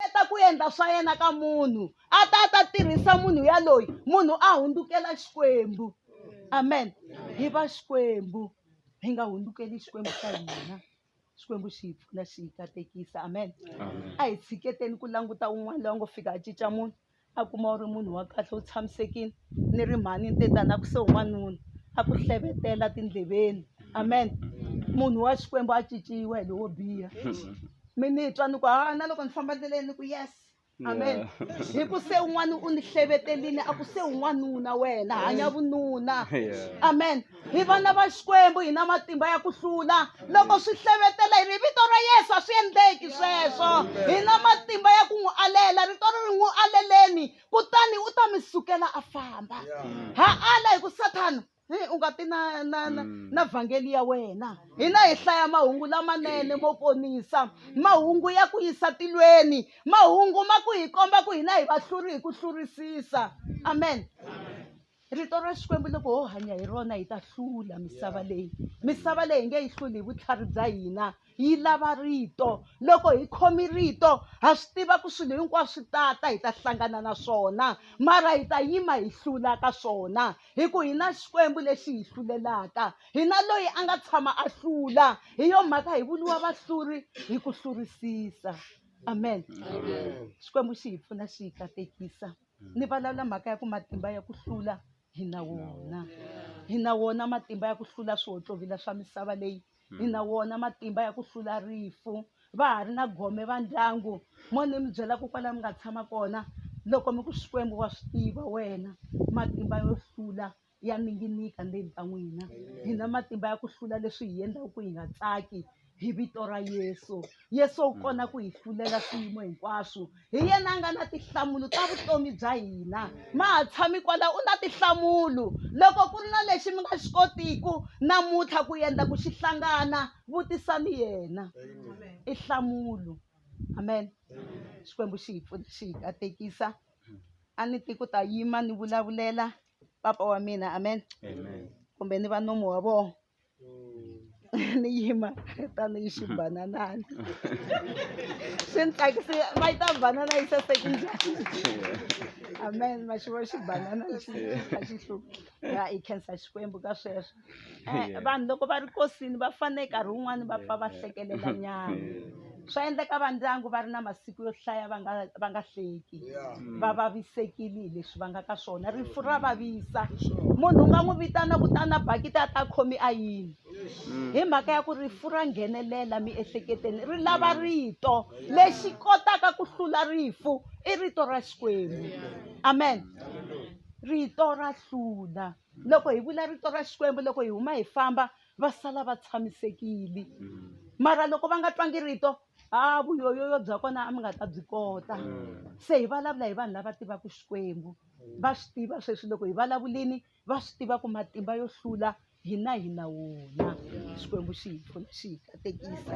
Heta ku endla swa yena ka munhu a ta a ta tirhisa munhu yaloyi munhu a hundzukela xikwembu amen hi va xikwembu hi nga hundzukeli xikwembu xa hina xikwembu xi hi pfuna xi hi katekisa amen a hi tshiketeni ku languta un'wana loyi a ngo fika a cinca munhu a kuma u ri munhu wa kahle u tshamisekile ni ri mhani ni te tani a ku se u n'wanuna a ku hlevetela tindleveni amen munhu wa xikwembu a cinciwa hi lowo biha mi ni twa ni ku ha na loko ni famba ndleleni ni ku yes amen hi ku se un'wana u ni hlevetelini a ku se un'wanuna wena hanya vununa amen hi vana va xikwembu hi na matimba ya ku hlula loko swi hlevetela hi ri vito ra yesu a swi endleki sweswo hi na matimba ya ku n'wi alela rito ri ri n'wi aleleni kutani u ta mi sukela a famba ha ala hi ku sathana u nga ti na na na mm. na vhangeli ya wena hina hi hlaya mahungu lamanene mo ponisa mahungu ya ku yisa tilweni mahungu ma ku hi komba ku hina hi vahluri hi ku hlurisisa amen, amen. Rito ra Xikwembu loko ho hanya hi rona hi ta hlula misava leyi misava leyi hi nge yi hluli hi vutlhari bya hina yi lava rito loko hi khomi rito ha swi tiva ku swilo hinkwaswo swi tata hi ta hlangana na swona mara hi ta yima hi hlula ka swona hi ku hi na xikwembu lexi hi hlulelaka hi na loyi a nga tshama a hlula hi yo mhaka hi vuriwa vahluri hi ku hlurisisa amen xikwembu xi hi pfuna xi hi katekisa ni vulavula mhaka ya ku matimba ya ku hlula hi na wona hi na wona matimba ya ku hlula swihontlovila swa misava leyi hi na wona matimba ya ku hlula rifu va ha ri na gome va ndyangu mo ni mi byelaka kwala mi nga tshama kona loko mi ku xikwembu wa swi tiva wena matimba yo hlula ya ninginika ndzeni ka n'wina hi na matimba ya ku hlula leswi hi endlaka ku hi nga tsaki hi vito ra yesu yesu u kona ku hi hlulela swiyimo hinkwaswo hi yena a nga na tinhlamulo ta vutomi bya hina ma ha tshami kwala u na tinhlamulo loko ku ri na lexi mi nga xi kotiku namuntlha ku endla ku xi hlangana vutisani yena i hlamulo amen xikwembu xi hi pfuna xi hi katekisa a ni ti ku ta yima ni vulavulela papa wa mina amen kumbe ni va nomo wa vona ni yima tanihi xibananana swi ni tsakisi va yi ta banana yi saseki njhani amen ma xi vona xibanana xi a xi hluphi ya i khensa xikwembu ka sweswo Eh, Yeah. vanhu loko va ri kosini va fanele nkarhi wun'wani va pfa va Yeah. hlekelela nyana swa endleka va ndyangu va ri na masiku yo hlaya va nga va nga hleki va vavisekile hi leswi va nga ka swona rifu ra vavisa munhu u nga n'wi vitana kutani a bakita a ta khomi a yini hi mhaka ya ku rifu ra nghenelela miehleketweni ri lava rito lexi kotaka ku hlula rifu i rito ra xikwembu amen rito ra hlula loko hi vula rito ra xikwembu loko hi huma hi famba va sala va tshamisekile mm. mara loko va nga twangi rito a vuyoyoyo bya kona a mi nga ta byi kota mm. se hi vulavula hi vanhu lava tivaka xikwembu mm. va swi tiva sweswi loko hi vulavulini va swi tiva ku matimba yo hlula hina hina wona xikwembu xi hi pfuna xi hi katekisa